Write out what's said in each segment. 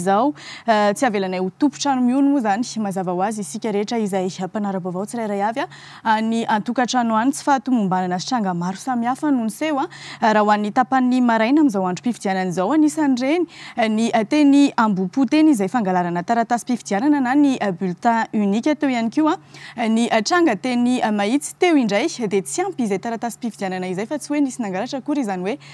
izao. Tsy avelanay ho tompon-trano mihono moa izany. Mazava ho azy, isika rehetra izay mpanara-baovao tsirairay avy any an-tokantrano any, tsy fahatomombanana sy tranga maro samihafa no niseho. Raha ho an'ny tapanin'ny maraina amin'izao androm-pifidianana izao, anisan'ireny ny teny Ambohipo teny izay fangalarana taratasim-pifidianana na ny bulletin unique. Teo ihany koa ny tranga teny Mahitsy. Teo indray dia tsy ampy izay taratasim-pifidianana izay fa tsy hoe nisy nangalatra akory izany hoe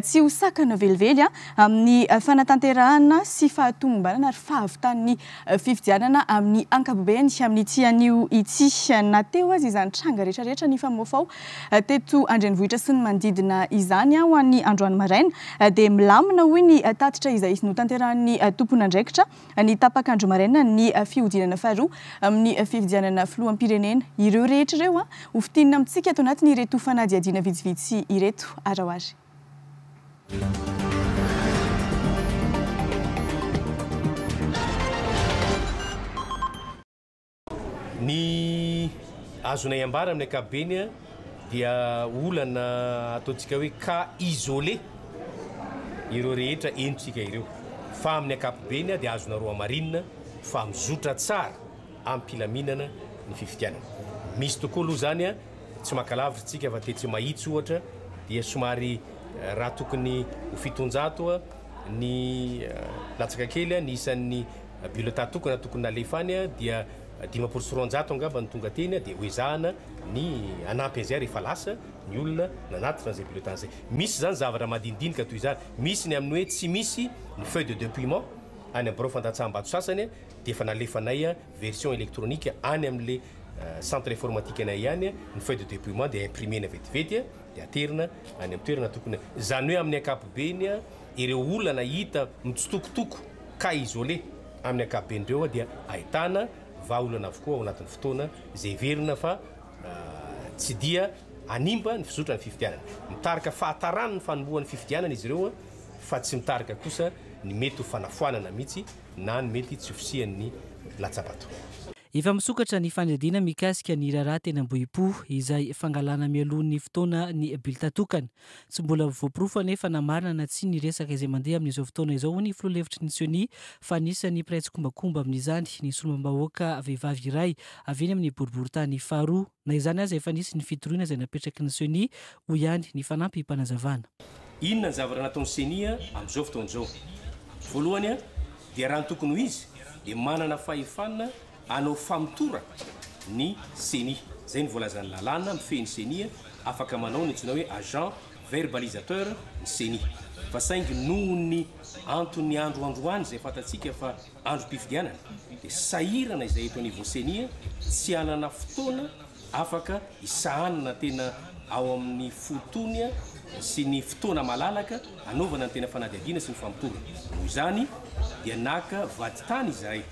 Tsy ho sakana velively amin'ny fanatanterahana sy fahatomombanana ary fahavitan'ny fifidianana amin'ny ankapobeny amin'ity anio ity, na teo aza izany tranga rehetrarehetra nifamoafaoa teto an-drenivohitra sy ny manodidina izany ho an'ny androany maraina dia milamina, hoy ny tatitra izay notanterahin'ny tomponandraikitra. ny tapak'andro maraina ny fihodinana faharoa amin'ny fifidianana filoham-pirenena. Ireo rehetra ireo ho fintinina amintsika ato anatin'ireto fanadihadiana vitsivitsy ireto ary ao ary. Ny azonay ambara amin'ny ankapobeny dia olana ataontsika hoe cas isolé ireo rehetra henontsika ireo fa amin'ny ankapobeny dia azonareo hamarinina fa mizotra tsara amim-pilaminana ny fifidianana. Misy tokoa aloha izany, tsy maka lavitra isika fa tetsy Mahitsy ohatra dia somary raha tokony ho fitonjato ny latsaka kely ny isan'ny Bulletin tokana tokony nalefa any dia dimampolo sy roanjato angamba no tonga teny dia hoezahana ny hanampy an'izay rehefa lasa ny olona nanatitra an'izay bulletin izay. Misy izany zavatra madinidinika toy izany. Misy ny amin'ny hoe tsy misy ny feuille de depouillement any amin'ny birao fandatsaham-bato sasany dia efa nalefanay version électronique any amin'ilay centre informatique anay ihany ny feuille de depouillement dia imprimer-na vetivety dia aterina any amin'ny toerana tokony. Izany hoe amin'ny ankapobeny ireo olona nahita mitsitokotoko cas isolé amin'ny ankapoben'ireo dia ahitana vahaolana avokoa ao anatin'ny fotoana izay heverina fa tsy dia hanimba ny fizotran' ny fifidianana. Mitarika fahataran' ny fanombohan' ny fifidianana izy ireo fa tsy mitarika kosa ny mety ho fanafoanana mihitsy na ny mety tsy ho fisian' ny latsabato. Efa misokatra ny fanadihadiana mikasika ny raharaha teny Ambohipo izay fangalana mialoha ny fotoana ny bilta tokana. Tsy mbola voaporofo anefa na marina na tsia ny resaka izay mandeha amin'izao fotoana izao, hoy ny filoha lefitry ny Ceni, fa anisan'ny mpiray tsikombakomba amin'izany ny solombavambahoaka vehivavy iray avy eny amin'ny boriborintany faharoa. Na izany aza, efa nisy ny fitoriana izay napetraky ny Ceni, hoy ihany ny fanampim-panazavana. Inona ny zavatra nataon'ny Ceni amin'izao fotoana izao? Voalohany dia raha ny tokony ho izy dia manana fahefana Hanao famotorana ny ceni. Izay no voalazan'ny lalàna mifehy ny ceni, afaka manao ny antsoina hoe agent verbalisateur ny ceni. Fa saingy noho ny anton'ny andro androany izay fantatsika fa androm-pifidianana dia sahirana izay eto anivon'ny ceni tsy hanana fotoana afaka hisahanana tena ao amin'ny fotony sy ny fotoana malalaka hanaovana ny tena fanadihadiana sy ny famotorana. Noho izany dia naka vadintany izahay.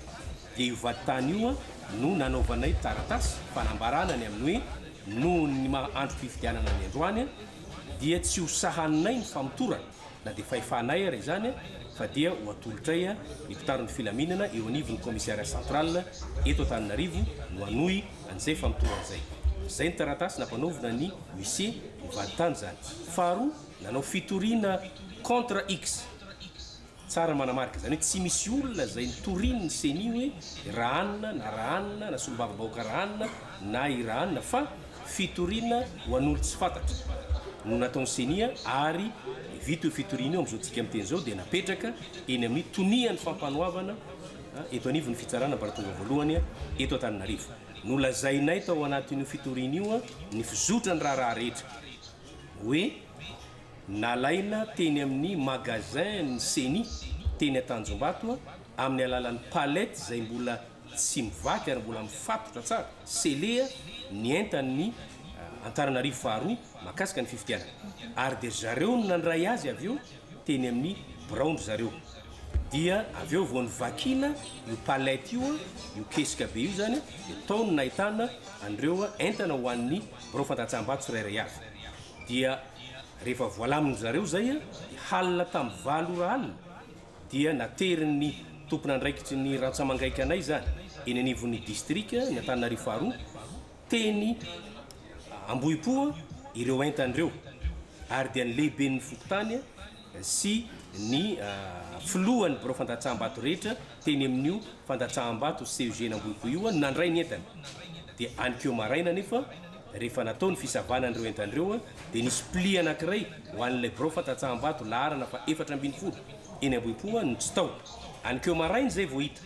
dia io vadintany io no nanaovanay taratasy fanambarana ny amin'ny hoe noho ny maha androm-pifidianana ny androany dia tsy ho sahaninay ny famotorana na dia fahefanay ary izany fa dia ho atolotray ny mpitandro ny filaminana eo anivon'ny commissariat central eto Antananarivo no hanohy an'izay famotorana izay. Izay ny taratasy nampanaovina an'i Musse ho vadintany izany. Faharoa, nanao fitoriana contre X. Tsara manamarika izany hoe tsy misy olona izay notorin ny ceni hoe rahanina na rahanina na solombava bahoaka rahanina na i rahanina fa fitoriana ho an'olo tsy fantatra no nataon'ny ceni ary vita io fitoriana io amin'izao tsika miteny izao dia napetraka eny amin'ny tonian'ny fampanoavana eto anivon'ny fitsarana ambaratonga voalohany eto Antananarivo. Nolazainay tao anatin'io fitoriana io ny fizotran'ny raharaha rehetra hoe. Nalaina teny amin'ny magasin ny ceni teny Antanjombato amin'ny alalan'ny palette izay mbola tsy mivaky ary mbola mifatotra tsara, scellé, ny entan'ny Antananarivo faharoa mahakasika ny fifidianana ary dia ry zareo no nandray azy avy eo teny amin'ny biraon-dry zareo dia avy eo vao novakiana io palette io, io kesika be io izany dia tao no nahitana an'ireo entana ho an'ny birao fandatsaham-bato tsirairay avy. dia rehefa voalamin-dry zareo izay dia halina tamin'ny valo ora alina dia naterin'ny tompon'andraikitry ny rantsamangaika anay izany eny anivon'ny distrika ny Antananarivo faharoa teny Ambohipo ireo entany ireo ary dia ny lehiben'ny fokontany sy ny filohan'ny birao fandatsaham-bato rehetra teny amin'io fandatsaham-bato CEG Nambohipo io no nandray ny entany. Dia anikeo maraina anefa, rehefa natao ny fisavana an'ireo entana ireo, dia nisy pli anankiray ho an'ilay birao fandatsaham-bato laharana fahefatra ambin'ny folo eny Ambohipo no tsy tao. Anikeo maraina izay vao hita,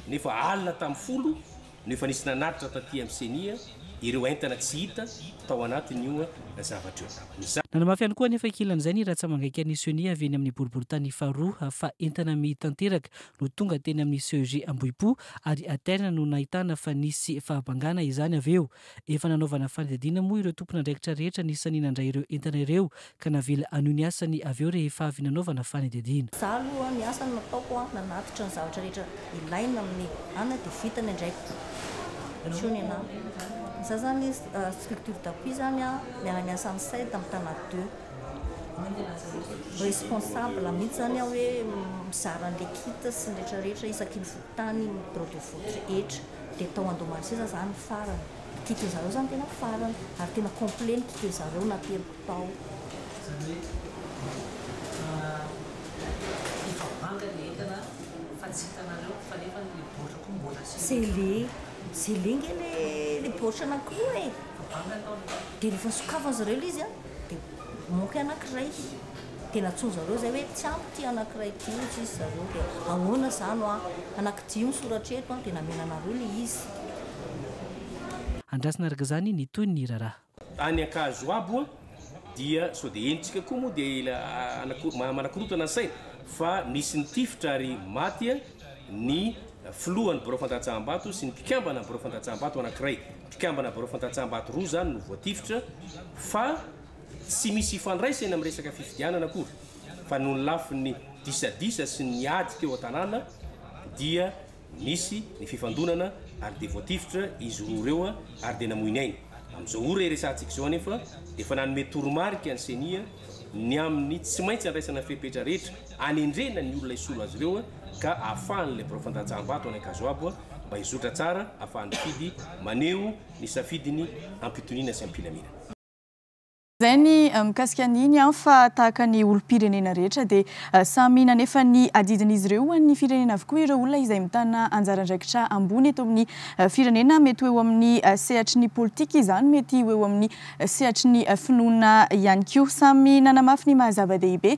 nefa alina tamin'ny folo no efa nisy nanatitra taty amin'ny Ceni ireo entana tsy hita tao anatin'io zavatra io. Nanamafy ihany koa anefa ankilan'izay ny rantsamangaikan'ny Ceni avy eny amin'ny boriborintany faharoa fa entana mihi tanteraka no tonga teny amin'ny CEG Ambohipo ary Aterna no nahitana fa nisy fahabangana izany avy eo. Efa nanaovana fanadihadiana moa ireo tompon'andraikitra rehetra anisan'ny nandray ireo entana ireo ka navela hanohy ny asany avy eo rehefa avy nanaovana fanadihadiana. Izaho aloha ny asa nataoko an, nanatitra ny zavatra rehetra ilaina amin'ny an dia vita ny andraikiko. Miseho ny anah. Izaho izany structure d'appui izany an, miara-miasa amin'ny CEDD amin'ny Tana deux. Responsable mihitsy izany aho hoe mizara an'ilay kit sy ny rehetra rehetra isaky ny fokontany, ny bureau de vote rehetra. Dia tao Andohamanisiza izaho no farany. Ny kitin-dry zareo izany tena farany ary tena complet ny kitin-dry zareo na tena. tao. Izany hoe efa banga ny entana fa tsy hitanareo fa nefa ny baoritra koa mbola sy le le sy le nge le le baoritra anakiroa e! Efa banga tao le baoritra. Dia rehefa sokafan zareo ilay izy an dia manque anakiray dia nantsoin zareo izay hoe tsy ampy ity anakiray ity hoy izy zareo dia ahoana izany hoa anaky dimy soratra eto an dia namenanareo ilay izy. Andrasana araka izany ny tohin'ny raharaha. Any Ankazo abo a dia sao dia henontsika koa moa dia ila ana manakorotana ny saina fa misy nitifitra ary maty a ny filohan'ny birao fandatsaham-bato sy ny mpikambana birao fandatsaham-bato anankiray. Mpikambana birao fandatsaham-bato roa izany no voatifitra fa tsy misy ifandraisany amin'ny resaka fifidianana akory fa noho ny lafiny disadisa sy ny ady teo an-tanàna dia Nisy ny fifandonana ary dia voatifitra izy roa ireo ary dia namoy ny ainy. Amin'izao ora iresahantsika izao anefa dia efa nanome toromarika ny Ceni ny amin'ny tsy maintsy handraisana fepetra rehetra hanendrena ny olona hisolo azy ireo ka ahafahan'ilay birao fandatsaham-bato any Ankazoabo mba hizotra tsara ahafahan'ny mpifidy maneho ny safidiny am-pitoniana sy am-pilaminana. Izay ny mikasika an'iny an, fa tahaka ny olom-pirenena rehetra dia samy nanefa ny adidin'izy ireo ho an'ny firenena avokoa ireo olona izay mitana anjara andraikitra ambony eto amin'ny firenena, mety ho eo amin'ny sehatry ny politika izany, mety ho eo amin'ny sehatry ny finoana ihany koa. Samy nanamafy ny maha-zava-dehibe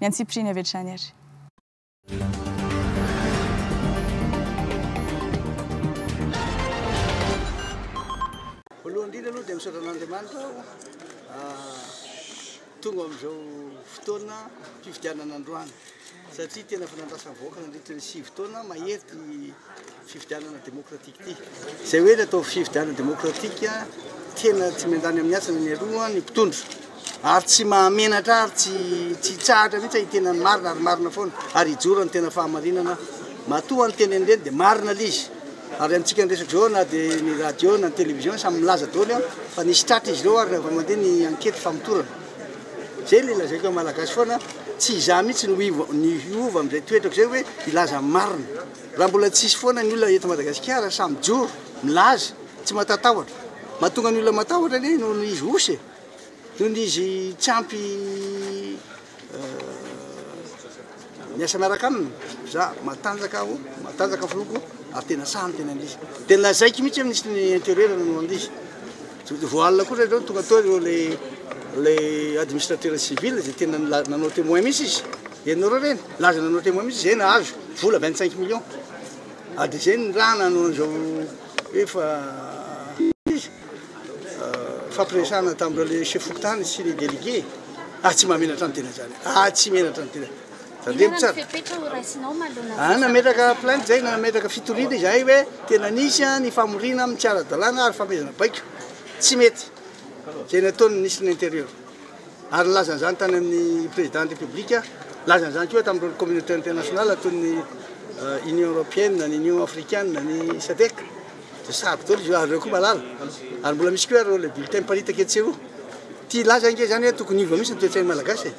Ny antsipiriany avy hatrany ary. Voalohany indrindra aloha dia misaotra an'Andriamanitra aho tonga amin'izao fotoana fifidianana androany satria tena efa nandrasan'ny vahoaka nandritra ny sivy taona mahery ity Fifidianana demokratika ity. Izay hoe ilay atao fifidianana demokratika, tena tsy miandany amin'ny asany ny aloha ny mpitondra. Ary tsy mahamenatra ary tsy tsy tsahatra mihitsy hitena ny marina ary marina foana ary hijoro ny tena fahamarinana. Matoa ny teny an'ireny dia marina ilay izy. Ary amintsika ny reseaux na dia ny radio na ny télévision samy milaza daholo fa nisy tratra izy ireo ary raha mandeha ny ankety famotorana. Izay ilay lazaiko amin'ny malagasy foana, tsy izaho mihitsy no hiova amin'izay toetrako izay hoe hilaza ny marina. Raha mbola tsy hisy foana ny olona eto Madagasikara sahy mijoro, milaza, tsy matatahotra. Mahatonga ny olona matahotra anie noho ny izy osy e! Noho ny izy tsy ampy miasa miaraka aminy. Za matanjaka aho, matanjaka ny filohako ary tena sahy ny tenan'izy. Dia lazaiko mihitsy hoe Minisitry ny Intérieur no an'izy. Vao alina kosa ireo no tonga tao ireo ilay administrateur civil izay tena nanao témoin mihitsy izy. Henonareo ve iny? Laza nanao témoin mihitsy izay nahazo vola vingt cinq millions. Ary dia izay ny raha nanao an'izao hoe fa izy fampiresahana tamin'ireo ilay chef fokontany sy ny délégué. Ary tsy mba menatra ny tena izany, ary tsy menatra ny tena. Tandremo tsara. Inona ny fepetra ho raisinao manoloana ny resaka Nametraka plainte izay, nametraka fitoriana izahay hoe tena nisy ny famoriana amin'ny tsy ara-dalàna ary fanomezana baiko tsy mety izay nataon'ny Ministry ny Intérieur. Ary nilaza an'izany tany amin'ny Président ny République, nilaza an'izany koa tamin'ireo communauté internationale toy ny Union Européenne, ny Union Africaine, ny Sadec. Dia sarotra daholo izy io ary ireo koa malala. Ary mbola misy koa ireo ilay bulletin miparitaka etsy sy eroa. Tia hilaza ange izany hoe tokony hiova mihitsy ny toe-tsain'ny Malagasy e.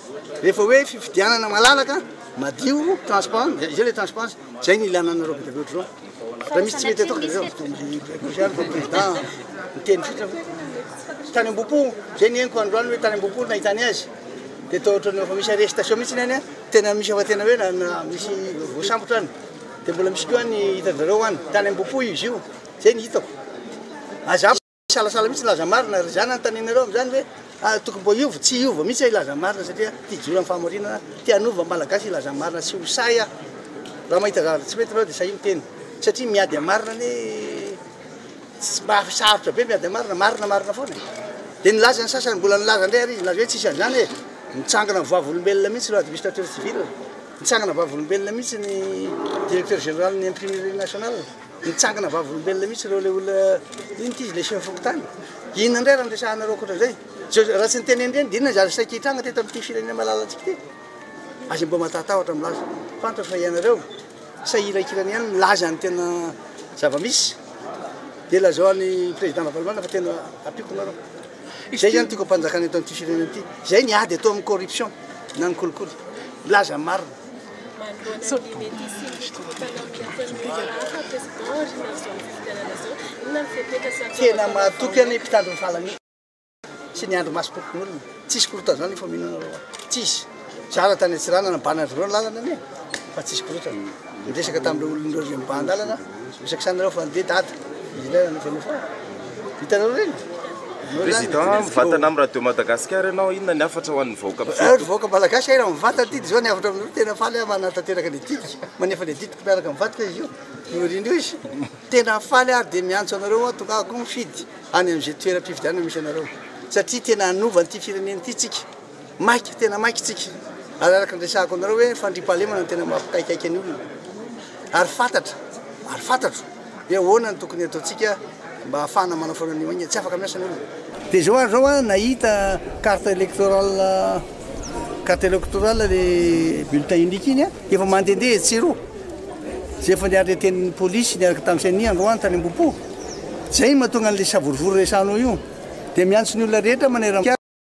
Rehefa hoe fifidianana malalaka, madio, transparent, dia izay ilay transparence. Izay no ilana anareo be dia be ohatr'izao. Raha misy tsy mety atao dia aleo tokony hipoitra ihany fa président miteny fotsiny hoe tany am-bopo. Izay ny henoko androany hoe tany am-bopo no nahitany azy. Dia toa ohatrany efa misy arrestation mihitsy any an. Tena misy efa tena hoe na- na- misy voasambotra any. Dia mbola misy koa ny hitanjareo any tany Ambohipo izy io, zay ny hitako. Aza misalasala mihitsy laza marina ry zanany tanenareo amzany hoe tokony mba hiova tsy hiova mihitsy ah ilaza marina satria tia hijoro am fahamarinana tia hanova ny malagasy hilaza ny marina tsy ho sahy ah raha mahita zavatra tsy mety nareo dia sahia miteny satria miady am marina anie tsy mba sarotra be miady am marina marina marina foana e dia nilaza ny sasany mbola nilaza ndray ary izy nilaza hoe tsisy anzany e mitsangana am vavolombelona mihitsy ireo administrateur civil Nitsangana vavolombelona mihitsy ny Directeur Général ny Imprimerie Nationale, nitsangana vavolombelona mihitsy ireo ilay olona, inona ity izy ilay Chef Fokontany? Inona indray raha niresahanareo ankoatran'izay? Sao raha tsy niteny endriny dia inona izy ary saika hitranga teto amin'ity firenena malalantsika ity? Aza mba matahatahotra milaza, fantatro fa ianareo sahy hiraikirana ihany milaza ny tena zava-misy, dia lazao an'i Président Ravalomanana fa tena ampiako nareo. Izay zany tiako ampanjakana eto amin'ity firenena ity. Izay ny ady atao amin'ny corruption na ny kolikoly. Milaza ny marina. Manoloana ny mety hisian'ny fitokisana amin'ny ataon'ny Minisitera President aoriana amin'izao fifidianana izao, inona no fepetra sy atao atao Tena mahatoky an ny mpitandro ny fahalamiana sy ny andro masom-pokonolona. Tsisy korotan'izany ny famonoana lalao. Tsisy. Tsara tany Antsiranana mba navereo ny lalana anie fa tsisy korotana. Niresaka tamin'ireo olon'ireo ry mibahan-dalana, miresaka sahy nareo fa andeha dada ilay nanofanofana. Hitanareo ireny? Anao izany dia Président mivantana amin'ny radio Madagascar ianao, inona ny hafatra ho an'ny vahoaka Ry mpifidy? vahoaka Malagasy hay raha mivantana ty dia izao ny hafatra aminareo, tena faly aho manatanteraka ilay didiko, manefa ilay didiko miaraka amin'ny vadiko izy io, niorina eo izy. Tena faly aho ary dia miantso anareo aho tongava koa mifidy any amin'izay toeram-pifidianana misy anareo satria tena hanova an'ity firenena ity tsika. Maika, tena maika isika, ary araka ny resahako aminareo hoe fandriampahalemana no tena mampikaikaika ny olona, ary fantatra, ary fantatro hoe ahoana no tokony hataontsika mba hahafahana manafoana an'io maika, tsy afaka miasa ny olona. Dia izao ary izao an, nahita carte electorale, carte electorale le bulletin unique iny an, efa mandehandeha etsy sy eroa, izay efa niareten'ny polisy niaraka tamin'ny ceni androany tany Ambohipo, izay no mahatonga an'ilay savorovoro resahanao io, dia miantso ny olona rehetra maneran-kianja,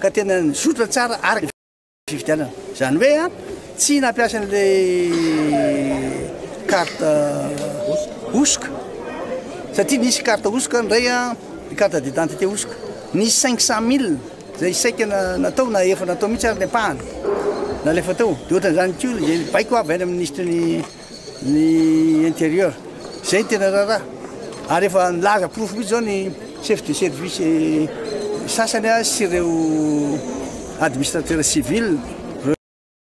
ka tena nizotra tsara araka ny fifidianana, izany hoe tsy nampiasa an'ilay carte hosoka satria nisy carte hosoka indray ny carte d'identité hosoka, nisy cinq cent mille izay saika natao na efa natao mihitsy ary ny ampahany nalefa tao, dia ohatran'izany koa izay baiko avy any amin'ny ministry ny. ny interieur zay tena raraha ary efa nilaza porofo mihitsy zao ny chef de service sasany a sy ireo administrateur civil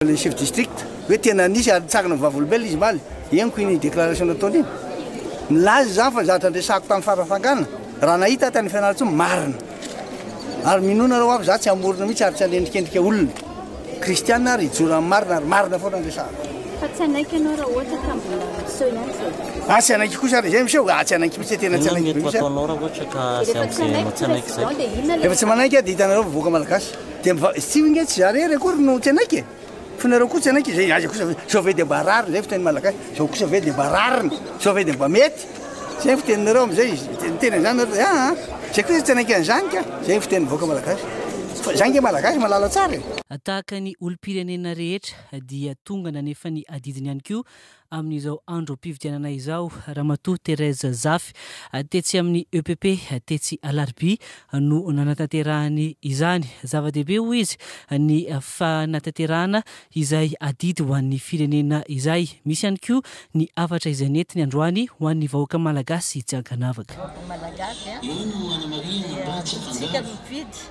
le chef district hoe tena nisy ary nitsangana ny vavolombelona izy maly henoko iny déclaration nataony iny nilaza izany fa ny zavatra andresako tamin'ny farafangana raha nahita tany fianarantsoa marina Ary minoa nareo aho fa za tsy hamorona mihitsy ary tsy hanendrikendrika olona. Kristiana ary hijoro amin'ny marina ary marina foana ny resahako. Fa tsy hanaiky ianao raha ohatra ka mbola miseho ihany izay. Ah tsy hanaiky kosa ary izay miseho? Ah tsy hanaiky mihitsy e, tena tsy hanaiky mihitsy aho. Inona no mety ho ataonao raha ohatra ka avy amin'izay ianao tsy hanaiky izay? Rehefa tsy manaiky aho dia hitanareo vahoaka malagasy dia miva-, tsy ingahy tsy za rery akory no tsy hanaiky e. Fa nareo koa tsy hanaiky izay aiza kosa ve zao ve dia mba rariny izay fiteny malagasy zao kosa ve dia mba rariny zao ve dia mba mety zay ny fiteninareo amizay miteny an'izany nareo dia aa zay kosa tsy hanaiky an'izany ka zay ny fitenin'ny vahoaka malagasy fa zay nge malagasy malala tsara e. Tahaka ny olom-pirenena rehetra dia tonga nanefa ny adidiny ihany koa amin'izao androm-pividianana izao, Ramatoa Thérèse Zafy, tetsy amin'ny EPP, tetsy Alarobia, no nanatanterahany izany. Zava-dehibe, hoy izy, ny fanatanterahana izay adidy ho an'ny firenena izay. Misy ihany koa ny hafatra izay nentiny androany ho an'ny vahoaka malagasy tsy ankanavaka.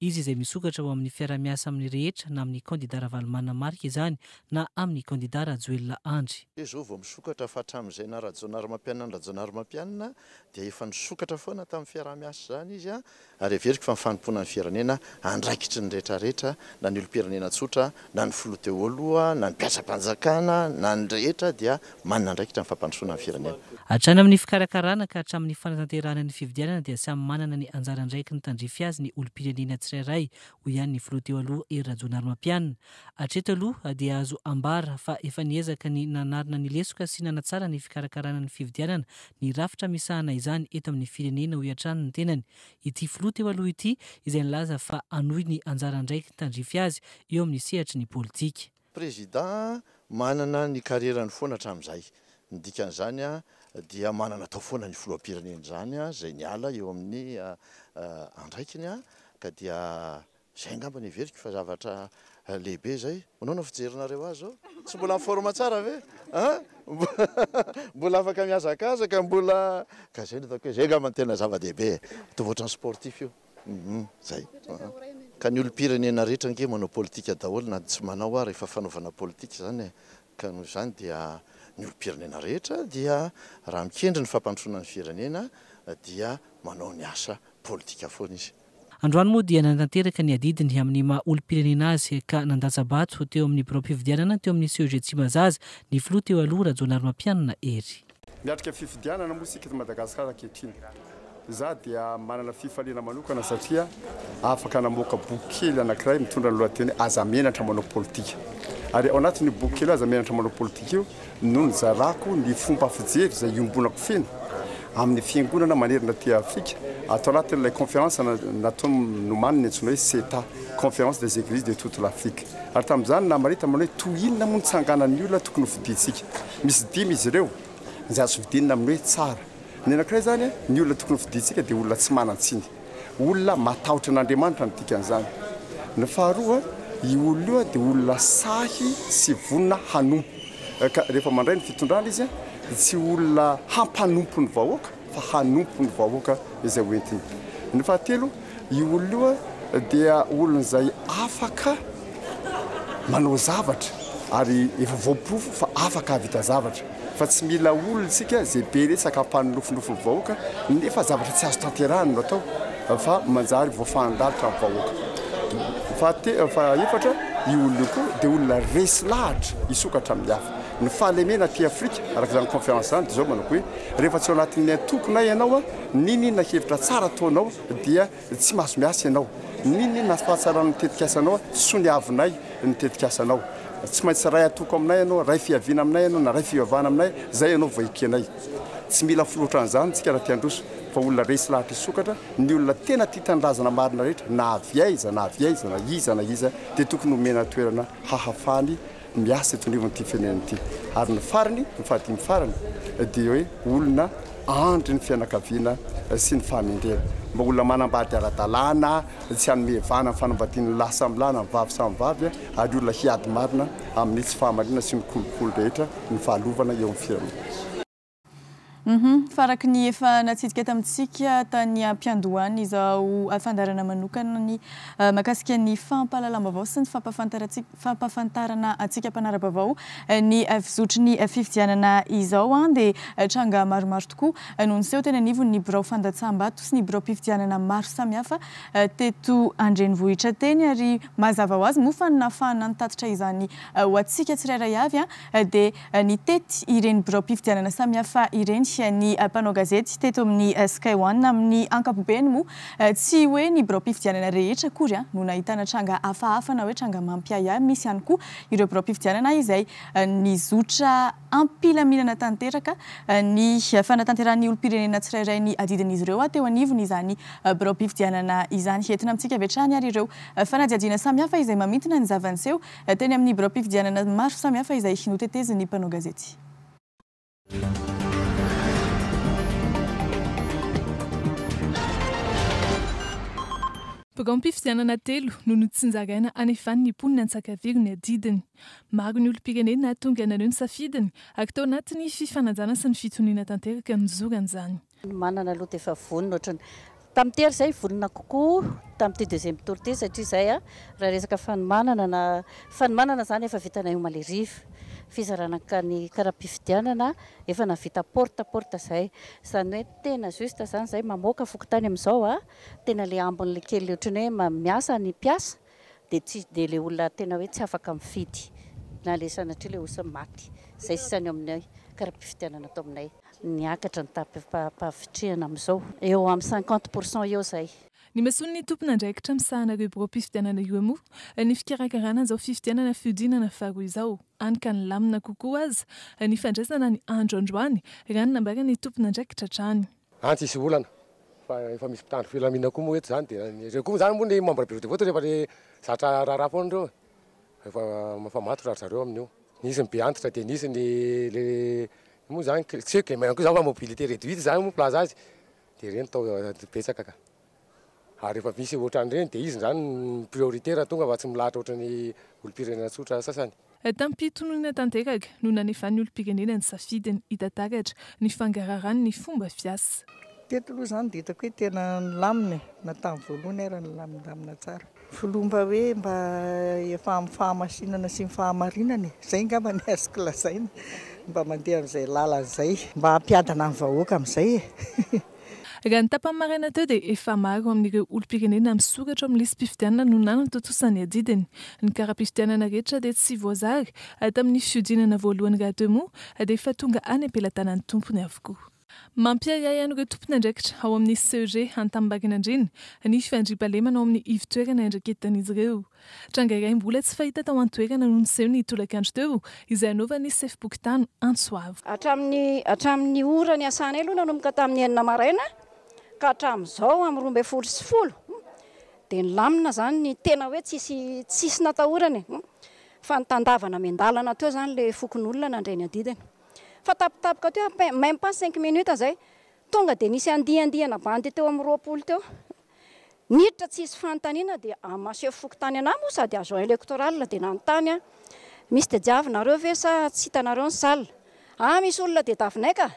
izy izay misokatra ho amin'ny fiarahamiasa amin'ny rehetra na amin'ny kandida Ravalomanana Marc izany na amin'ny kandida Rajoelina Andry. Hoe izao vao misokatra fa hatramin'izay naha Rajaonarimampianina an'i Rajaonarimampianina dia efa nisokatra foana tamin'ny fiaraha-miasa izany izy ary heveriko fa ny fanompoana ny firenena andraikitry ny rehetrarehetra na ny olom-pirenena tsotra na ny filoha teo aloha, na ny mpiasam-panjakana, na ny rehetra dia manana andraikitra amin'ny fampandrosoana ny firenena. Hatrany amin'ny fikarakarana ka hatramin'ny fanatanterahana ny fifidianana dia samy manana ny anjara andraikiny tandrify azy ny olom-pirenena tsirairay, hoy ihany ny filoha teo aloha Hery Rajaonarimampianina. Hatreto aloha dia azo ambara fa efa niezaka ny nanarina ny lesoka sy nanatsara ny fikarakarana ny fifidianana ny rafitra misahana izany eto amin'ny firenena, hoy hatrany ny tenany ity filoha teo aloha ity izay nilaza fa hanohy ny anjara andraikiny tandrify azy eo amin'ny sehatry ny politika. Prezida manana ny karierany foana hatramin'izay. Ny dikan'izany dia manana atao foana ny filoham-pirenena izany izay niala eo amin'ny andraikiny ka dia Zay angamba ny heveriko fa zavatra lehibe zay. Manao na fijerinareo azy zao? Tsy mbola en forme tsara ve an? Mbola afaka mihazakazaka mbola ka zay no hitako hoe zay angamba no tena zava-dehibe e. Mitovy ohatran'ny sportif io hum zay. Ka ny olom-pirenena rehetra ange manao politika daholo na tsy manao ary efa fanaovana politika zany e. Ka noho izany dia ny olom-pirenena rehetra dia raha mikendry ny fampandrosoana ny firenena dia manao ny asa politika foana izy. Androany moa dia nanatanteraka ny adidiny amin'ny maha olom-pirenena azy ka nandatsa-bato teo amin'ny biraom-pifidianana teo amin'ny CEG Tsimbazaza ny filoha teo aloha Rajaonarimampianina Hery. Miatrika fifidianana moa isika eto Madagasikara ankehitriny. Izaho dia manana fifaliana manokana satria afaka namoaka boky kely anankiray mitondra ny lohateny Aza Menatra Manao Politika. Ary ao anatin'io boky kely Aza Menatra Manao Politika io no nizarako ny fomba fijery izay iombonako feno amin'ny fiangonana manerana aty Afrika ato anatin'ilay conférence natao nomaniny antsoina hoe CETA, Conférence des Églises de toute l'Afrique. Ary tamin'izany namaritana manao hoe toy inona moa ny tsanganan'ny olona tokony hofidintsika. Misy dimy izy ireo izay azo fidinina amin'ny hoe tsara. Ny anankiray izany, ny olona tokony hofidintsika dia olona tsy manan-tsiny. Olona matahotra an'Andriamanitra no dikan'izany. Ny faharoa, io olona io dia olona sahy sy vonona hanompo. Ka rehefa mandray ny fitondrana izy dia tsy olona hampanompo ny vahoaka fa hanompo ny vahoaka izay ho entiny. Ny fahatelo, io olona io dia olona izay afaka manao zavatra ary efa voaporofo fa afaka hahavita zavatra. fa tsy mila olona isika izay be resaka hampanonofinofy ny vahoaka nefa zavatra tsy azo tanterahina no atao fa manjary voafahan-dalitra ny vahoaka. Fahate- Fahaefatra, io olona io koa dia olona resy lahatra hisokatra amin'ny hafa. Ny fahalemena aty Afrika, araka izany conférence izany, dia izao manako hoe rehefa tsy ao anatin'ny antokonay ianao, n'inon'inona hevitra tsara ataonao dia Tsy mahazo miasa ianao. N'inon'inona sy fahatsarana ny tetikasanao, soniavinay ny tetikasanao. Tsy maintsy ray atoko aminay ianao, ray fiaviana aminay ianao na ray fivavahana aminay, izay ianao vao ekenay. Tsy mila filoha ohatran'izany isika raha te handroso, fa olona resy lahatra hisokatra, ny olona tena tia tanindrazana marina rehetra na avy aiza na avy aiza na iza na iza dia tokony homena toerana hahafahany miasa eto anivon'ity firenena ity. Ary ny farany, ny fahadimy farany, dia hoe olona andry ny fianakaviana sy ny fahamendrena. Mba olona manambady ara-dalàna, tsy hanome vahana ny fanambadian'ny ny lahy samy lahy na ny vavy samy vavy, ary olona hiady marina amin'ny tsy fahamariana sy ny kolikoly rehetra, ny fahalovana eo amin'ny firenena. Humm faraky ny efa natsidika tamintsika tany ampiandohana izao fandaharana manokana ny mahakasika ny fampahalalam-baovao sy ny fampahafantarana antsika mpanara-baovao ny fizotry ny fifidianana izao dia tranga maromaro tokoa no niseho teny anivon'ny birao fandatsaham-bato sy ny biraom-pifidianana maro samihafa teto an-drenivohitra teny ary mazava ho azy moa fa ny nahafahana nitatitra izany ho antsika tsirairay avy dia Nitety ireny biraom-pifidianana samihafa ireny ny mpanao gazety teto amin'ny Sky One. Amin'ny ankapobeny moa, tsy hoe ny biraom-pifidianana rehetra akory no nahitana tranga hafahafa na hoe tranga mampiahiahy. Misy ihany koa ireo biraom-pifidianana izay nizotra am-pilaminana tanteraka ny fanatanterahan'ny olom-pirenena tsirairay ny adidin'izy ireo. Teo anivon'izany biraom-pifidianana izany. Entina amintsika avy hatrany ary ireo fanadihadiana samihafa izay mamintina ny zava-niseho Teny amin'ny biraom-pifidianana maro samihafa izay notetezin'ny mpanao gazety. Biraom-pifidianana telo no notsinjaraina anefan'ny mponina Antsakaviro ny adidiny. Maro ny olom-pirenena tonga naneho ny safidiny ary tao anatin'ny fifanajana sy ny fitoniana tanteraka nizorany izany. Ny manana aloha dia efa vonona ohatrany tamin'ny tery izay, vonona kokoa tamin'ity deuxième tour ity satria izay a, raha resaka fanomanana na fanomanana izany efa vitanay omaly hariva, fizarana ka ny kara-pifidianana efa nahavita porte à porte izay, izany hoe tena juste izany izay mamoaka fokontany amin'izao a, tena ilay ambiny ilay kely ohatrany hoe miasa ny mpiasa, dia tsy dia ilay olona tena hoe tsy afaka mifidy na ilay sanatria ilay osa maty. Izay sisa ny ao aminay kara-pifidianana ato aminay. Niakatra ny tapi-pahavitrihana amin'izao. Eo amin'ny cinquante pour cent eo izay. Ny mason'ny tompon'andraikitra misahana ireo biraom-pifidianana io moa ny fikarakarana izao fifidianana fihodinana faharoa izao, hany ka nilamina kokoa aza ny fandraisana ny andro androany, raha ny nambaran'ny tompon'andraikitra hatrany. Any tsisy olana fa efa misy mpitandro filaminana koa moa eto zany dia ireo koa zany moa ny membre bureau de vote rehefa le zatra raharaha foana ireo efa mifamatotra ry zareo amin'io nisy ny be antitra dia nisy ny le moa zany tsy hoe gmn koa zany fa mobilité réduite zany moa milaza azy dia ireny tao betsaka ka. Ary rehefa misy ohatran'ireny dia iza izany no priorité raha tonga fa tsy milahatra ohatran'ny olompirenena tsotra sasany? Tam-pitononana tanteraka no nanefan'ny olompirenena ny safidiny, hita taratra ny fangararan'ny fomba fiasa. Teto aloha izany dia hitako hoe tena nilamina e, na tamin'ny voalohany ara nilamindamina tsara. Filoha mba hoe mba efa amin'ny fahamasinana sy ny fahamarinana e, izay angamba ny azoko lazaina, mba mandeha amin'izay lalana izay. Mba hampiadana ny vahoaka amin'izay e. Raha ny tapany maraina teo dia efa maro amin'ireo olom-pirenena misoratra ao amin'ny lisi-pifidianana no nanatontosa ny adidiny. Ny kara-pifidianana rehetra dia tsy voazara, ary tamin'ny fihodinana voalohany rahateo moa dia efa tonga any am-pelatanan'ny tompony avokoa. Mampiahiahy an'ireo tompon'andraikitra ao amin'ny CEG Antanimbarinandriana ny fandriampahalemana ao amin'ny ivo-toerana iandraiketan'izy ireo. Tranga iray mbola tsy fahita tao an-toerana no niseho ny tolakandro teo, izay hanaovan'ny sefom-pokontany antso avo. Hatramin'ny hatramin'ny ora niasanay aloha nanomboka tamin'ny enina maraina ka hatramin'izao amin'ny roa ambin'ny folo sy folo dia nilamina izany ny tena hoe tsisy tsisy natahorana e! fa nitandavana miandalana teo izany ilay fokonolona nandray ny adidiny fa tapitapika teo à peine, même pas cinq minutes izay tonga dia nisy andian-diana bandy teo amin'ny roapolo teo. Niditra tsy hisy fanontaniana dia amin'ny maseho fokontany anah moa sady agent electoral dia nanontany aho misy tadiavinareo ve sa tsy hitanareo ny salle? ah misy olona tediavinay ka!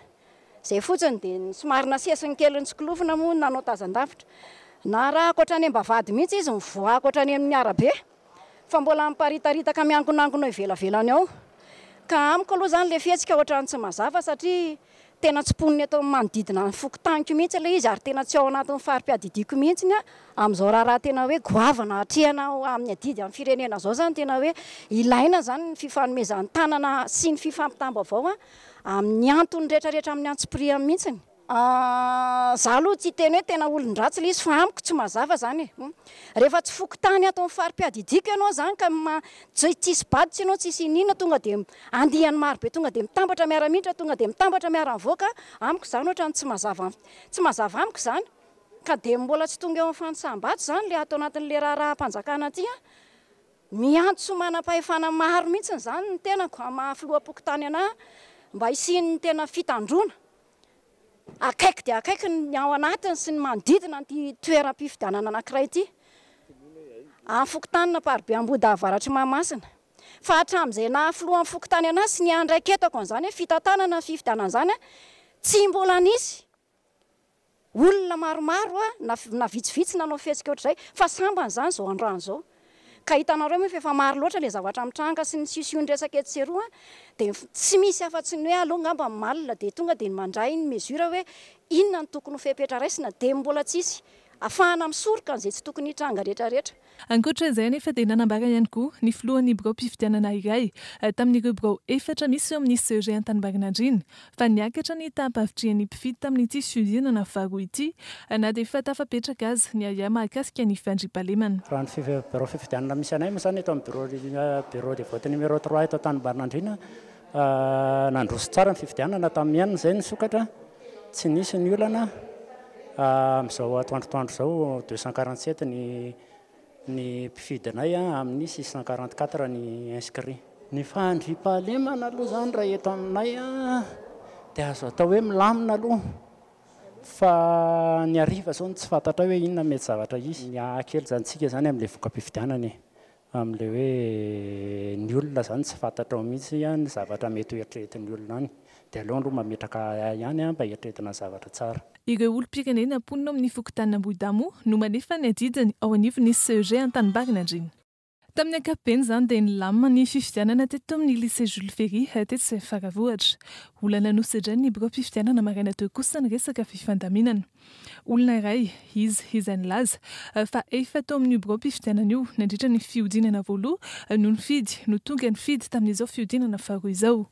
izay fotsiny dia ny somary nasesiny kely nitsikolofona moa no nanao tazan-davitra. Narahako hatrany am-bavahady mihitsy izy, nivoahako hatrany amin'ny arabe. fa mbola miparitaritaka miankonankona eo ivelavelany ao ka amiko aloha izany ilay fihetsika ohatran'ny tsy mazava satria tena tsy mponina eto amin'ny manodidina ny fokontaniko mihitsy ilay izy ary tena tsy ao anatin'ny fari-piadidiako mihitsy ny amin'izao raharaha tena hoe goavana atrehina amin'ny adidy amin'ny firenena izao izany tena hoe ilaina izany ny fifanomezan-tanana sy ny fifampitam-baovao amin'ny antony rehetrarehetra amin'ny antsipirihany mihitsy Ahh za aloha tsy hiteny hoe tena olon-dratsy le izy fa amiko tsy mazava izany e! Hum. Rehefa tsy fokontany ato amin'ny fari-piadidiako ianao izany ka ma- tsy tsisy bado tsy ianao tsisy iniana tonga dia andiany maro be tonga dia mitambatra miara-miditra tonga dia mitambatra miara-mivoaka amiko izany ohatrany tsy mazava tsy mazava amiko izany ka dia mbola tsy tonga eo amin'ny fanisam-bado izany le ato anatin'le raharaham-panjakana aty an! Miantso manam-pahefana maro mihitsy izany ny tenako amin'ny maha filoham-pokontany anahy mba hisian'ny tena fitandroana akaiky dia akaiky ny ao anatiny sy ny manodidina an'ity toeram-pifidianana anankiray ity, amin'ny fokontanin'ny Amparibe Ambohidahy Avaratr'i Mahamasina. Fa hatramin'izay naha filohan'ny fokontany an'ahy sy ny ahy indray ketako an'izany hoe fitantanana ny fifidianana izany, tsy mbola nisy. Olona maromaro na na vitsivitsy nanao fihetsika ohatr'izay fa sambany izany izao androany izao. Ka hitanareo moa fa efa maro loatra ilay zavatra mitranga sy ny siosion-dresaka etsy sy eroa dia tsy misy afa-tsy ny hoe aleo angamba ny malina dia tonga dia mandray ny mesure hoe inona no tokony ho fepetra raisina dia mbola tsisy afahana misoroka an'izay tsy tokony hitranga rehetra rehetra. Ankoatra izay anefa dia nanambara ihany koa ny filohan'ny biraom-pifidianana iray tamin'ireo birao efatra misy eo amin'ny CEG Antanimbarinandriana fa niakatra ny taham-pavitrihan'ny mpifidy tamin'ity fihodinana faharoa ity na dia efa tafapetraka aza ny ahiahy mahakasika ny fandriampahalemana. Raha ny birao fifidianana misy anay moa izany eto amin'ny birao de vote numéro trois eto Antanimbarinandriana Nandroso tsara ny fifidianana tamin'ny enina izay ny sokatra, tsy nisy ny olana. Amin'izao atoandro atoandro izao deux cent quarante sept ny ny mpifidy anay amin'ny six cent quarante quatre ny inscrits. Ny fandriampahalemana aloha izany raha eto aminay dia azo atao hoe milamina aloha fa ny hariva izao no tsy fantatray hoe inona mety zavatra hisy. Miaha kely izany tsika izany amin'ilay voka-pifidianana e. Amin'ilay hoe ny olona izany tsy fantatrao mihitsy an, ny zavatra mety ho eritreretin'ny olona any. Dia aleo aloha mametraka ahy ihany an, mba eritreretina ny zavatra tsara. Ireo olom-pirenena mponina ao amin'ny fokontanin' Ambohidamo no manefa ny adidiny ao anivon'ny CEG Antanimbarin' Andriana. Tamin'ny ankapobeny izany dia nilamina ny fifidianana teto amin'ny Lycée Jules Ferry tetsy Faravohitra. Olana nosedrain'ny biraom-pifidianana maraina teo kosa ny resaka fifandaminana. Olona iray izy izay nilaza fa efa tao amin'io biraom-pifidianana io nandritra ny fihodinana voaloha no nifidy no tonga nifidy tamin'izao fihodinana faharoa izao.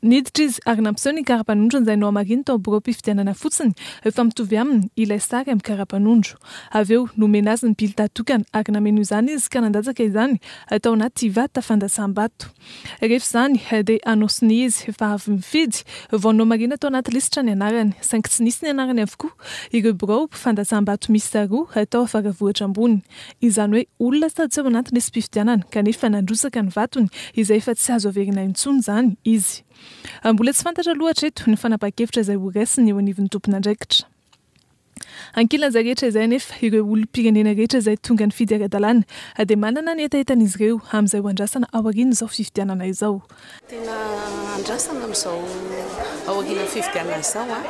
Niditra izy ary nampiseho ny karapanondrony izay nohamariny tao biraom-pifidianana fotsiny fa mitovy aminy ilay sary amin'ny karapanondro. Avy eo nomena azy ny bilta tokana ary nameno izany izy ka nandatsaka izany tao anaty vata fandrasam-bato. Rehefa izany dia anôsiny izy fa avy mifidy vao nomarina tao anaty lisitra ny anarany, saingy tsy nisy ny anarany avokoa, ireo birao fandasam-bato miisa roa tao Faravohitra Ambony. Izany hoe olona sady tsy ao anaty lisi-pifidianana kanefa nandrotsaka ny vatony izay efa tsy azo averina intsony izany izy. Mbola tsy fantatra aloha hatreto ny fanapahan-kevitra izay ho raisiny eo anivon'ny tompon'andraikitra. Ankilanja rehetra izay anefa, ireo olom-pirenena rehetra izay tonga nifidy ara-dalàna dia manana ny hetahetan'izy ireo amin'izay ho andrasana aorian'izao fifidianana izao. Tena andrasana amin'izao aorian'ny fifidianana izao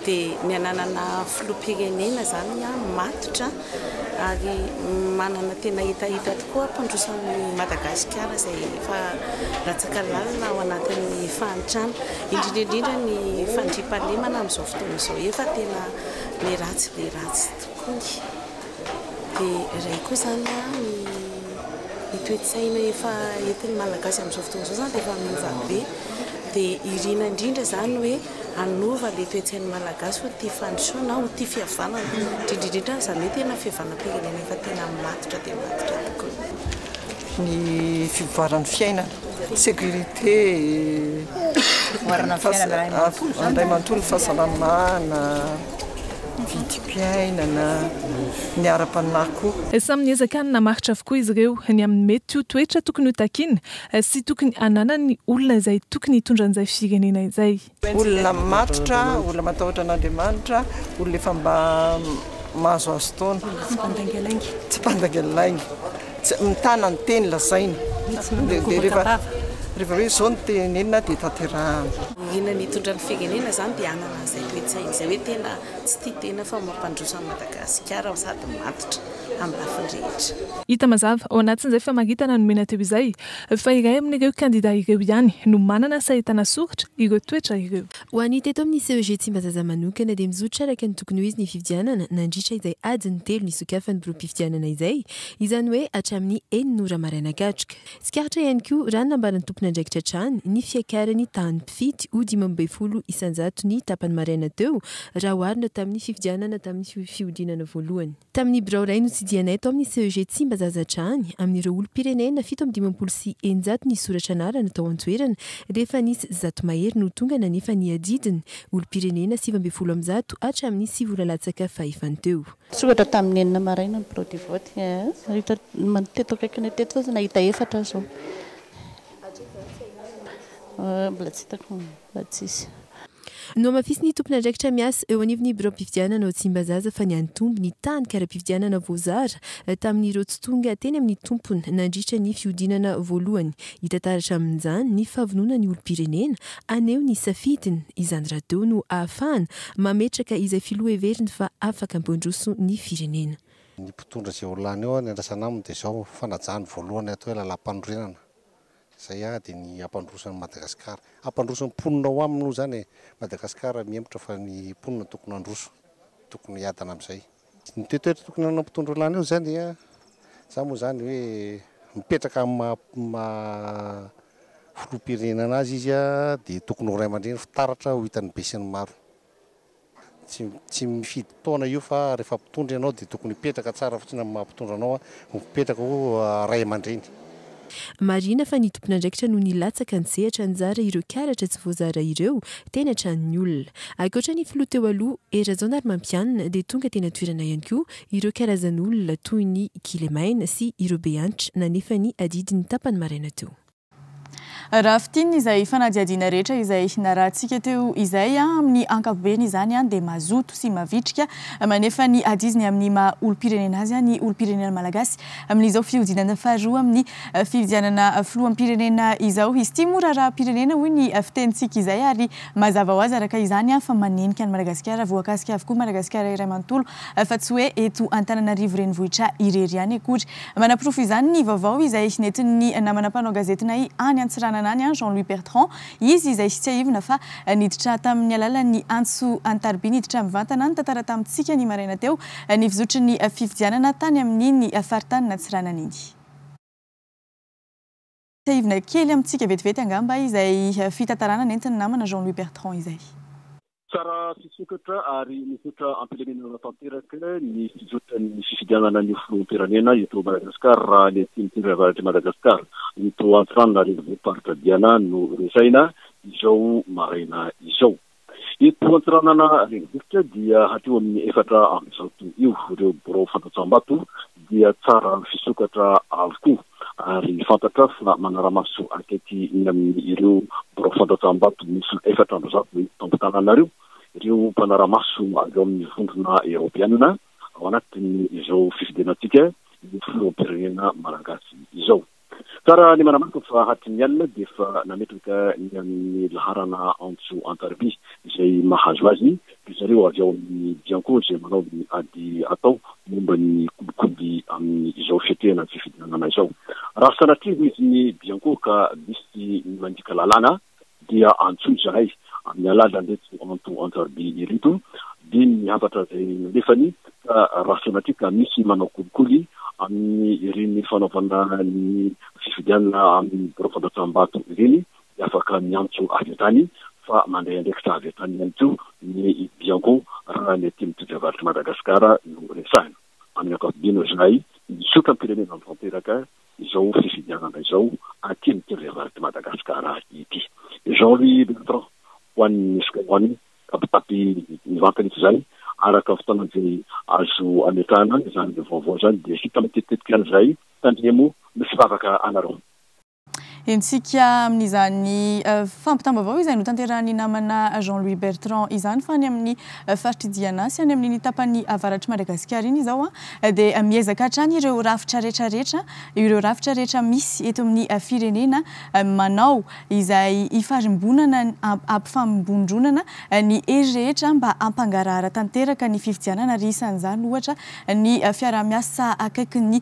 dia ny hananana filoham-pirenena izany matotra ary manana tena hetaheta tokoa hampandrosoan'i Madagasikara izay efa latsaka lalina ao anatin'ny fahantrana, indrindra indrindra ny fandriampahalemana amin'izao fotoana izao efa tena be ratsy be ratsy tokoa dia iray koa izany ny toe-tsaina efa entin'ny Malagasy amin'izao fotoana izao izany dia efa miova be dia irina indrindra izany hoe hanova le toetsain'ny malagasy ho tia fandrosoana ho tia fihavanana indrindra indrindra aza ny hoe tena fihavanam-pirenena efa tena matotra dia matotra tokoa ny fivoaran'ny fiainana sécurité andray manontolo fahasalamana vidim-piainana ny ara-panahy koa. Samy niezaka nanamaritra avokoa izy ireo ny amin'ny mety ho toetra tokony ho takiana Tsy tokony hananan'ny olona izay tokony hitondra an'izay firenena izay. Olona matotra, olona matahotra an'Andriamanitra, olona efa mba mahazoazo taona. Tsy mpandaingalainga. Tsy mpandaingalainga. Tsy mitana ny teny lazaina. Dia rehefa rehefa hoe izao no tenenina dia tanterahana. Inona no hitondra ny firenena izany dia hanana an'izay toe-tsaina izay hoe tena tsy tia tena fa mampandroso an'i Madagasikara sady matotra. amin'ny lafiny rehetra. Hita mazava ao anatin'izay famaritana nomena teo izay fa iray amin'ireo kandida ireo ihany no manana sahy ahitana soritra ireo toetra ireo. Ho an'ny teto amin'ny CEG Tsimbazaza manokana dia mizotra araka ny tokony ho izy ny fifidianana nandritra izay adiny telo nisokafan'ny biraom-pifidianana izay, izany hoe hatramin'ny enina ora maraina katroka. Tsikaritra ihany koa raha ny nambaran'ny tompon'andraikitra hatrany ny fiakaran'ny tahan'ny mpifidy ho dimy ambin'ny folo isan-jato ny tapany maraina teo raha oharina tamin'ny fifidianana tamin'ny fihodinana voalohany. Tamin'ny birao iray notsidihanaay tao amin'ny CEG Tsimbazazadrany, amin'ireo olom-pirenena fito amby dimampolo sy eninjato nisoratra anarana tao an-toerana, dia efa nisy zato mahery no tonga nanefa ny adidiny, olom-pirenena sivy ambin'ny folo amin'ny zato hatramin'ny sivy ora latsaka fahefany teo. Soratra tamin'ny enina maraina ny birao de vote. Teto akaikinay teto fotsiny nahita efatra aho izao. Mbola tsy hitako, mbola tsisy. Nohamafisin'ny tompon'andraikitra miasa eo anivon'ny biraom-pifidianana ao Tsimbazaza fa niantombo ny tany kara-pifidianana voazara tamin'ireo tsy tonga teny amin'ny tompony nandritra ny fihodinana voalohany. Hita taratra amin'izany ny fahavononan'ny olom-pirenena haneho ny safidiny. Izany radio no ahafahana mametraka izay filoha heveriny fa afaka hampandroso ny firenena. Ny mpitondra izay ho lany eo, ny andrasana aminy dia izao, fanajana voalohany hatao ilay lalàmpanorenana. Izay ady ny hampandroso an'i Madagasikara. Hampandroso ny mponina ao aminy moa izany e! Madagasikara mihemotra fa ny mponina tokony handroso, tokony hiadana amin'izay. Ny toetoetra tokony hananan'ny mpitondra olana eo izany dia izany moa izany hoe mipetraka amin'ny maha filoham-pirenena azy izy dia tokony ho ray aman-dreny fitaratra ho hitan'ny besinimaro. Tsy tsy mifidy taona io fa rehefa mpitondra ianao dia tokony hipetraka tsara fotsiny amin'ny maha mpitondra anao ho mipetraka ho ray aman-dreny. Marina fa ny tompon'andraikitra no nilatsaka nisehatra nizara ireo karatra tsy voazara ireo teny an-tranon'ny olona. Ankoatra ny filoha teo aloha, Hery Rajaonarimampianina dia tonga teny an-toerana ihany koa ireo karazan'olona toy ny kilemaina sy ireo behanitra nanefa ny adidiny tapany maraina teo. Raha fintinina izay fanadihadiana rehetra izay narahantsika teo izay, amin'ny ankapobeny izany dia mazoto sy mavitrika manefa ny adiziny amin'ny maha olom-pirenena azy ny olom-pirenena malagasy amin'izao fihodinana faharoa amin'ny fifidianana filoham-pirenena izao. Izy ity moa raharaham-pirenena hoy ny fitenintsika izay ary mazava ho azy araka izany fa manenika an'i Madagasikara, voakasika avokoa Madagasikara iray manontolo fa tsy hoe eto Antananarivo renivohitra irery ihany akory. Manaporofo izany ny vaovao izay nentin'ny namana mpanao gazetinay any Antsiranana any, Jean Louis Bertrand, izy izay tsiahivina fa niditra tamin'ny alalan'ny antso an-tariby niditra mivantana nitantara tamintsika ny maraina teo ny fizotry ny fifidianana tany amin'iny faritanin'Antsiranana iny. Tsiahivina kely amintsika vetivety angamba izay fitantarana nentin'ny namana Jean Louis Bertrand izay. Tsara fisokatra ary misaotra am-pilaminana tanteraka ny fizotra ny fifidianana ny ho filoham-pirenena eto Madagascar raha ny atsimo tendro avaratry Madagascar eto Antsiranana renivohi-paritra Diana no resahina izao maraina izao. Eto Antsiranana renivohitra dia hatreo amin'ny efatra amby zato eo ireo birao fandatsaham-bato dia tsara fisokatra avokoa ary fantatra fa manara-maso akaiky ny amin'ireo birao fandatsaham-bato miisa efatra amby zato eto am-pitananareo ireo mpanara-maso avy ao amin'ny vondrona eoropeanina ao anatin'izao fifidianantsika ny filoham-pirenena malagasy izao. Tsara ny manamarika fa hatrin'ny alina dia efa nametraka ny amin'ny laharana antso an-tariby izay mahazo azy ry zareo avy ao amin'ny Bianco izay manao ny ady atao momba ny kolikoly amin'izao fiatrehana ny fifidianana izao. Raha sanatria ho izy ny Bianco ka misy ny mandika lalàna, dia antsoy izahay amin'ny alalan'ireto anto Antsarabe ireto, dia ny hafatra izay nalefany ka raha sanatria ka misy manao kolikoly amin'ny ireny fanaovana ny fifidianana amin'ny birao fandraisam-bato ireny dia afaka miantso avy hatrany fa mandray andraikitra avy hatrany ihany koa ny Bianco raha ny aty amin'ny todravarotr'i Madagasikara no resahina. Amin'ny ankapobeny hoy izahay, misaotra ny firenena tanteraka izao fifidianana izao aty amin'ity reniranon'ity Madagasikara ity. Jean Louis Bertrand, ho an'ny Sokajiny, mitapitapy mivantana eto izay, araka ny fotoana izay azo ametrahana izany vaovao izany dia hita matetika izany izay, tandremo ny firavaka anareo. Hentsika amin'izany fampitam-baovao izay notanterahin'ny namana Jean Louis Bertrand izany fa any amin'ny faritr'i Diana sy any amin'iny tapany avaratr'i Madagasikara iny izao dia miezaka hatrany ireo rafitra rehetra rehetra ireo rafitra rehetra misy eto amin'ny firenena manao izay hifarimbonana hampifambondronana ny hery rehetra mba hampangarahara tanteraka ny fifidianana ary isan'izany ohatra ny fiaraha-miasa akaikin'ny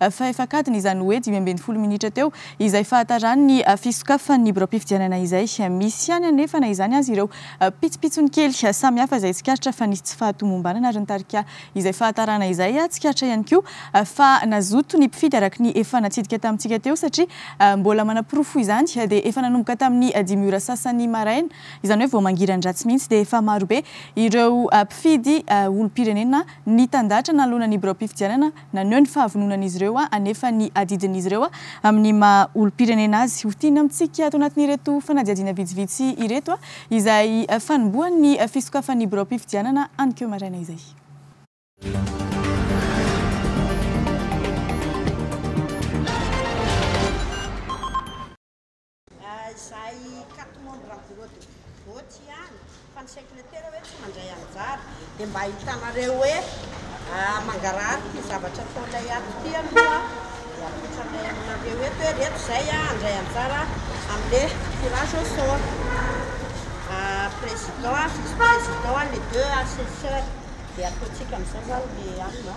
fahefakadiny, izany hoe dimy ambin'ny folo minitra teo, izay fahataran' ny fisokafan' ny biraom-pifidianana izay. Misy ihany anefa na izany aza ireo pitsopitsony kely samihafa izay tsikaritra fa nisy tsy fahatomombanana ary ny tarika izay fahatarana izay tsikaritra ihany koa fa nazoto ny mpifidy araka ny efa natsidika tamintsika teo satria mbola manaporofo izany dia efa nanomboka tamin'ny dimy ora sasany maraina izany hoe vao mangiran-dratsy mihitsy dia efa marobe ireo mpifidy olom-pirenena nitandahatra nanoloana ny biraom-pifidianana Naneho ny fahavononan'izy ireo hanefa ny adidin'izy ireo amin'ny maha olom-pirenena azy ho tiana amintsika ato anatin'ireto fanadihadiana vitsivitsy ireto izay fanombohan'ny fisokafan'ny biraom-pifidianana hanikeo maraina izay. Izay carte membre am bureau de vote ihany fa ny secretera hoe tsy mandray anjara dia mba ahitanareo hoe mangarahara ity zavatra ataonay ato ity aloha dia apetranay aminareo eto hoe reto izay handray anjara amle tirage au sort président, vice président, les deux assesseurs dia ataontsika amin'izao zany le alina.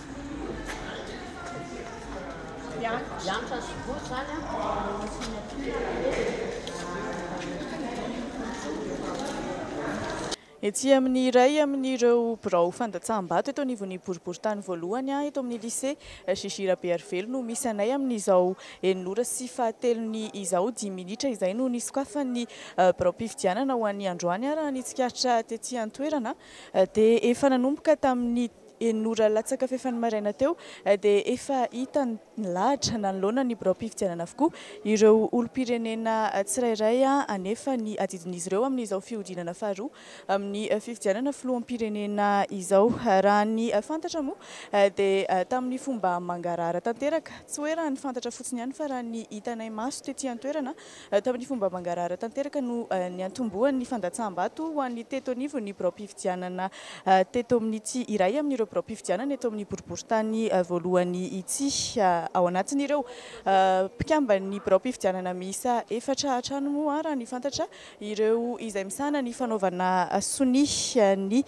Etsy amin'ny iray amin'ireo birao fandatsaham-bato eto anivon'ny boriborintany voalohany, eto amin'ny Lycée JJ Rabearivelo no misy anay amin'izao enin'ora sy fahatelony izao. Dimy minitra izay no nisokafan'ny biraom-pifidianana ho an'ny androany raha ny tsikaritra tety an-toerana dia efa nanomboka tamin'ny Enina ora latsaka fahefany maraina teo dia efa hita nilahatra nanoloana ny biraom-pifidianana avokoa ireo olom-pirenena tsirairay hanefa ny adidin'izy ireo amin'izao fihodinana faharoa amin'ny fifidianana filoham-pirenena izao. Raha ny fantatra moa dia tamin'ny fomba mangarahara tanteraka, tsy hoe raha ny fantatra fotsiny ihany fa raha ny hitanay maso tety an-toerana Tamin'ny fomba mangarahara tanteraka no niantombohan'ny fandatsaham-bato ho an'ny teto anivon'ny biraom-pifidianana teto amin'ity iray amin'ireo biraom-pifidianana eto amin'ny boriborintany voalohany ity. Ao anatin'ireo mpikamban'ny biraom-pifidianana miisa efatra hatrany moa, raha ny fantatra, ireo izay misahana ny fanaovana sonia ny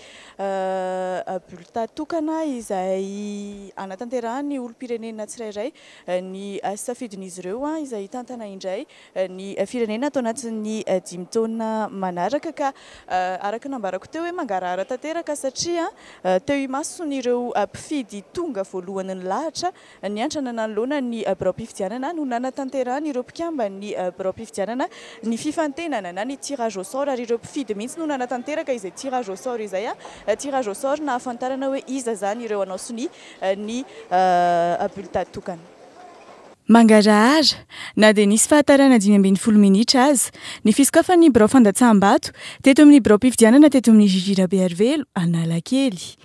bulletin tokana izay hanatanterahany olom-pirenena tsirairay ny safidin'izy ireo izay hitantana indray ny firenena ato anatin'ny dimy taona manaraka ka araka ny nambarako teo hoe mangarahara tanteraka satria teo imason'ireo mpifidy tonga voalohany nilahatra niantrana nanoloana ny biraom-pifidianana no nanatanterahan'ireo mpikamban'ny biraom-pifidianana ny fifantenana na ny tirage au sort ary ireo mpifidy mihitsy no nanatanteraka izay tirage au sort izay, tirage au sort nahafantarana hoe iza izany ireo hanao sonia. ny bulletin tokana. Mangarahara, na dia nisy fahatarana dimy ambin'ny folo minitra aza, ny fisokafan'ny birao fandatsaham-bato teto amin'ny biraom-pifidianana teto amin'ny GG Rabearivelo Analakely.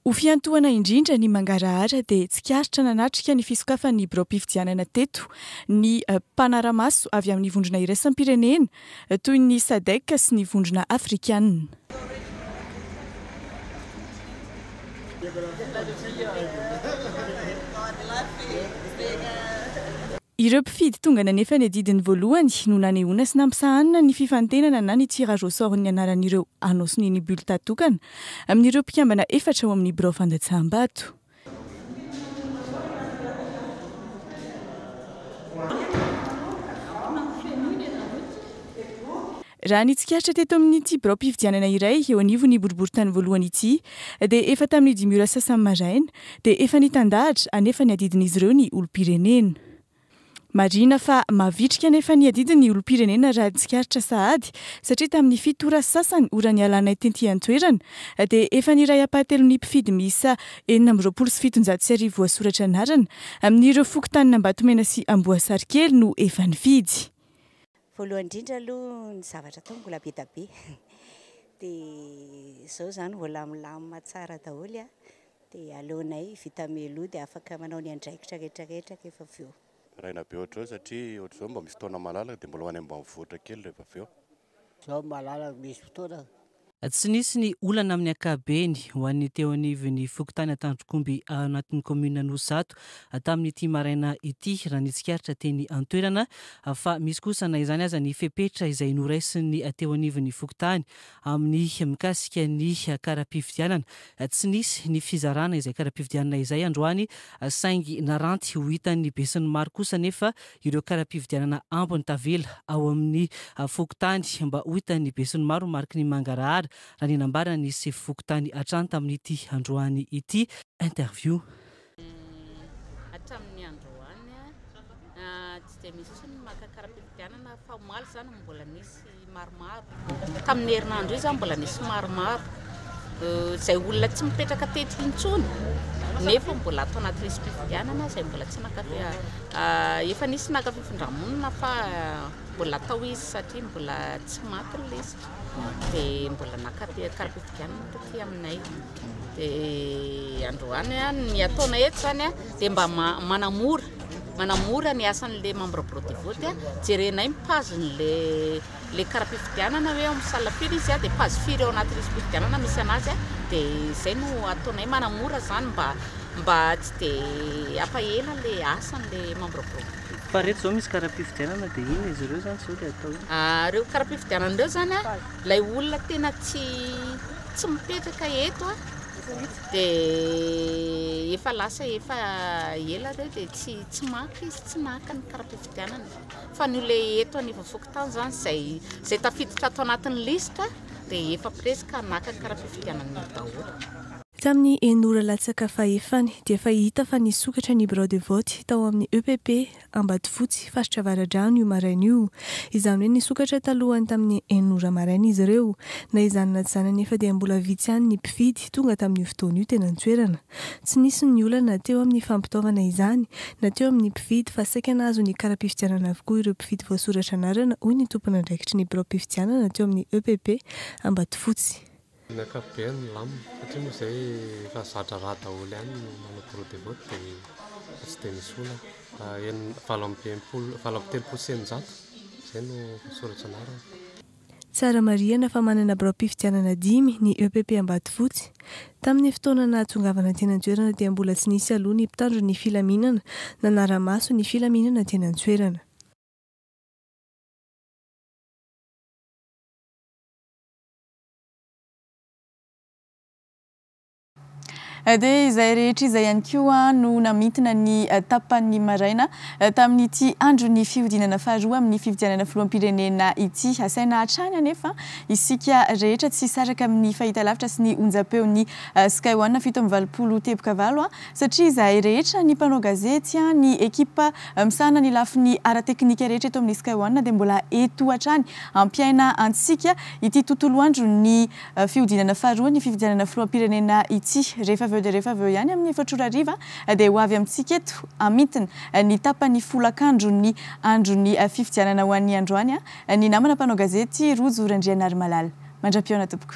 Ho fiantohana indrindra ny mangarahara dia tsikaritra nanatrika ny fisokafan'ny biraom-pifidianana teto ny mpanara-maso avy amin'ny vondrona iraisam-pirenena toy ny Sadec sy ny Vondrona Afrikanina. Ireo mpifidy tonga nanefa ny adidiny voalohany no nanehoana sy nampisahanina ny fifantenana na ny tirage au sort ny anaran'ireo hanao sonia ny bulletin tokana amin'ireo mpikambana efatra ao amin'ny birao fandatsaham-bato. Raha ny tsikaritra teto amin'ity biraom-pifidianana iray eo anivon'ny boriborintany voalohany ity dia efa tamin'ny dimy ora sasany maraina dia efa nitandahatra anefa ny adidin'izy ireo ny olom-pirenena. Marihina fa mavitrika anefa ny adidin'ny olom-pirenena raha tsikaritra sahady satria tamin'ny fito ora sasany ora nialanay tety an-toerana dia efa ny iray ampahatelon'ny mpifidy miisa enina amby roapolo sy fitonjato sy arivo voasoratra anarana amin'ireo fokontanin'Ambatomena sy Amboasarikely no efa nifidy. Voalohany indrindra aloha ny zavatra atao mbola be dia be dia izao izany mbola milamina tsara daholo a, dia aleonay vita meloa dia afaka manao ny andraikitra rehetra rehetra rehefa avy eo. Raina be ohatr'izao satria ohatr'izao mba misy fotoana malalaka dia mbola ho any ambanivohitra kely rehefa avy eo. Izao malalaka misy fotoana. Tsy nisy ny olana amin'ny ankabeny ho an'ny teo anivon'ny fokontany Antandrokomby ao anatin'ny kaominina Anosizato tamin'ity maraina ity raha ny tsikaritra teny an-toerana fa misy kosa na izany aza ny fepetra izay noraisin'ny teo anivon'ny fokontany amin'ny mikasika ny kara-pifidianana. Tsy nisy ny fizarana izay kara-pifidianana izay androany saingy naranty ho hitan'ny besinimaro kosa anefa ireo kara-pividianana ambiny tavela ao amin'ny fokontany mba ho hitan'ny besinimaro ny mariky ny mangarahara, raha ny nambaran'ny sefo fokontany hatrany tamin'ity androany ity. Interview. Hatramin'ny androany, tsy dia misy intsony ny maka kara-pividianana fa omaly izany no mbola nisy. maromaro. Tamin'ny herinandro io izaho mbola nisy maromaro, izay olona tsy mipetraka teto intsony nefa mbola ato anaty lisi-pifidianana izay mbola tsy naka efa nisy naka fifindramonina fa mbola atao izy satria mbola tsy maty ny lisitra dia mbola naka kara-pifidianana taty aminay. Dia androany ny ataonay eto izany dia mba manamora Manamora ny asan'ilay membre bureau de vote, jerenay ny page n'ilay kara-pifidianana hoe ao amin'ny salle firy izy dia page firy ao anaty lisi-pifidianana misy anazy dia izay no ataonay manamora izany mba mba tsy dia ampahela ilay asan'ilay membre bureau. Fa reto zao misy kara-pifidianana dia inona izy ireo zany zao dia atao inona? Ireo kara-pifidianana ireo zany ilay olona tena tsy tsy mipetraka eto a! Dia efa lasa efa ela ireo dia tsy tsy maka izy, tsy naka ny kara-pifidianana. Fa ny olona eto anivon'ny fokontany izany izay izay tafiditra ato anatin'ny liste dia efa presque ka naka ny kara-pifidianana daholo. Tamin'ny en'ora latsaka fahefany dia efa hita fa nisokatra ny birao de vote tao amin'ny EPP Ambatofotsy, faritra Avaradrano io maraina io. Izany hoe nisokatra talohan'ny tamin'ny enina ora maraina izy ireo. Na izany na izany anefa dia mbola vitsy ihany ny mpifidy tonga tamin'io fotoana io teny an-toerana. Tsy nisy ny olana teo amin'ny fampitaovana izany na teo amin'ny mpifidy fa saika nahazo ny kara-pifidianana avokoa ireo mpifidy voasoratra anarana hoy ny tompon'andraikitry ny biraom-pifidianana teo amin'ny EPP Ambatofotsy. Ny ankapobeny milamina satria moa izay efa zatra rà daholo ihany ny manao bureau de vote dia efa tsy dia misy olana fa enina, valo amby enimpolo, valo amby telopolo sy eninjato izay no voasoratra anarana. Tsara marihana fa manana biraom-pifidianana dimy ny EPP Ambatofotsy. Tamin'ny fotoana nahatongavana teny an-toerana dia mbola tsy nisy aloha ny mpitandro ny filaminana nanara-maso ny filaminana teny an-toerana. Dia izay rehetra izay ihany koa no namintina ny tapan'ny maraina tamin'ity andron'ny fihodinana faharoa amin'ny fifidianana filoham-pirenena ity. Asaina hatrany anefa isika rehetra tsy hisaraka amin'ny fahitalavitra sy ny onjam-peon'ny Sky One fito amby valopolo teboka valo satria izahay rehetra ny mpanao gazety, ny ekipa misahana ny lafiny ara-teknika rehetra eto amin'ny Sky One dia mbola eto hatrany hampiaina antsika. ity tontolo andro ny fihodinana faharoa ny fifidianana filoham-pirenena ity. Rehefa avy eo dia rehefa avy eo ihany amin'ny efatra ora hariva dia ho avy amintsika eto amintina ny tapany folakandro ny andron'ny fifidianana ho an'ny androany ny namana mpanao gazety Rojo Randrianarimalala. Mandra-pihaona tompoko.